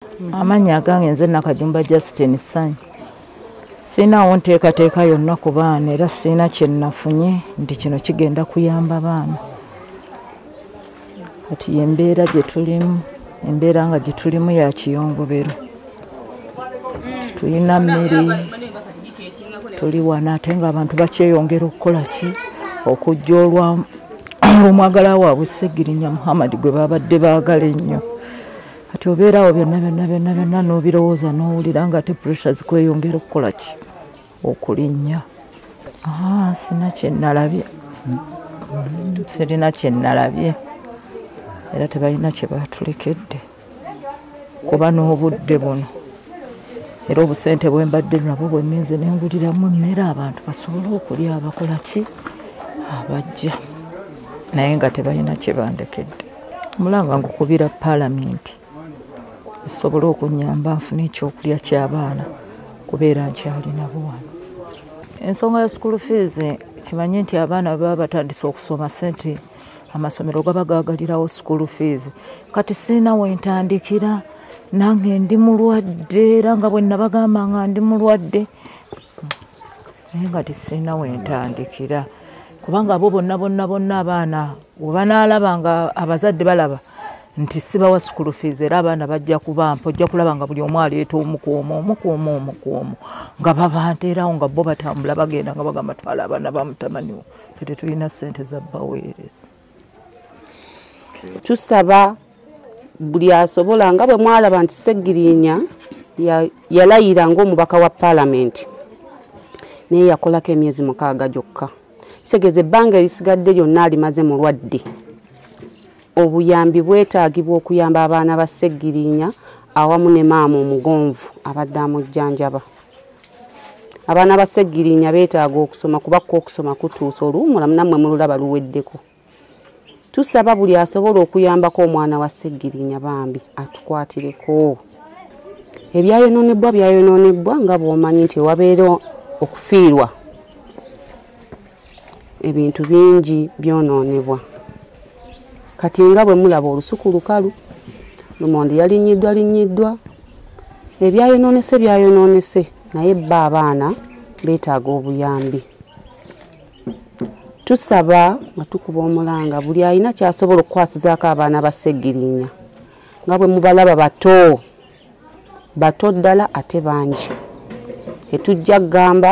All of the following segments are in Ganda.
Mm-hmm. amannya agange nze nakajumba justin sanyu sirinaawo nteekateeka yonna ku baana era sirina kyenafunye nti kino kigenda kuyamba baana kati yembeera gyetulimu embeera nga gyetulimu ya kiyongobero tulina mmere tuli wana ate nga abantu bakyeyongera okukola ki okujja olwa olwomwagala waabwe segirinya muhammadi gwe babadde baagala ennyo kati obeerawo byonna byonna byonna byonna n'obirowooza n'owulira nga ate puresha zikweyongera okukola ki okulinnya ah, sina kyenalabye mm, sirina kyenalabye era tebalina kye baatulekedde kuba n'obudde buno era obusente bwe mbadde nabwo bwe ngenze ne nguliramu emmere abantu basobole okulya abakola ki abajja naye nga tebalina kye bandekedde mulanga ngukubira palamenti esobole okunyamba nfuna ekyokulya kyabaana kubeera nkyalinabo wano ensonga ya school fees kimanye nti abaana baba batandise okusoma sente amasomero gaba gagalirawo school fees kati siina wentandikira nange ndi mulwadde era nga bwenabagamba nga ndi mulwadde naye nga tisirina wentandikira kubanga abo bonna bonna bonna abaana webanaalaba nga abazadde balaba nti sibawa sukulu fees era abaana bajja kubampa ojja kulaba nga buli omu aleeta omukuomu omukuomu omukuomu nga babanteerawo nga bo batambula bagenda nga bagamba twala abaana bamutamaniwo fe tetulina sente za baweereza tusaba buli asobola nga bwe mwalaba nti segirinya yalayira ngaomubaka wa palamenti naye yakolako emyezi mukaaga gyokka kitegeeza ebbanga erisigadde lyonna alimaze mulwadde obuyambi bwetaagibwa okuyamba abaana ba segirinya awamu ne maama omugonvu abadde amujjanjaba abaana ba ssegirinya beetaaga okusoma kuba ko okusoma kutuusa oluwumula nammwe mululaba luweddeko tusaba buli asobola okuyambako omwana wa ssegirinya bambi atukwatireko ebyayonoonebwa byayonoonebwa nga bw'omanyi nti wabeera okufiirwa ebintu bingi byonoonebwa kati nga bwe mulaba olusuku lukalu lumondi yalinyiddwa linyiddwa ebyayonoonese byayonoonese naye bba abaana beetaaga obuyambi tusaba nga tukuba omulanga buli alina kyasobola okukwasizaako abaana ba segirinya nga bwe mubalaba bato bato ddala ate bangi tetujja kugamba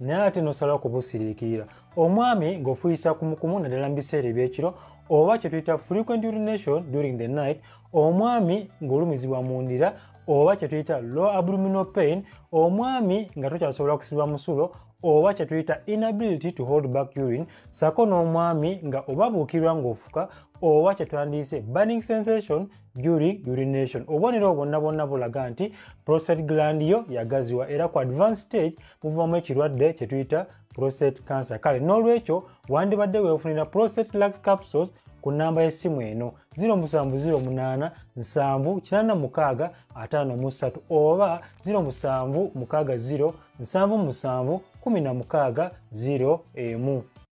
naye ate nosalawo kubusiriikirira omwami ng'ofuyisa kumukumu naddala mu biseera ebyekiro oba kye tuyita frequent urination during the night omwami ng'olumizibwa mu ndira oba kye tuyita low abdominal pain omwami nga tokyasobola kusiba musulo oba kye tuyita inability to hold back urine sako n'omwami nga obabuukirwa ng'ofuka oba kye twandiyise burning sensation during urination obubonero obwonna bwonna bulaga nti prostate gland yo yagaziwa era ku advance stage buvamu ekirwadde kye tuyita prostate cancer kale n'olwekyo wandibadde weefunira prostate lux capsules ku nnamba y'essimu eno 07085786 oba 07607716 emu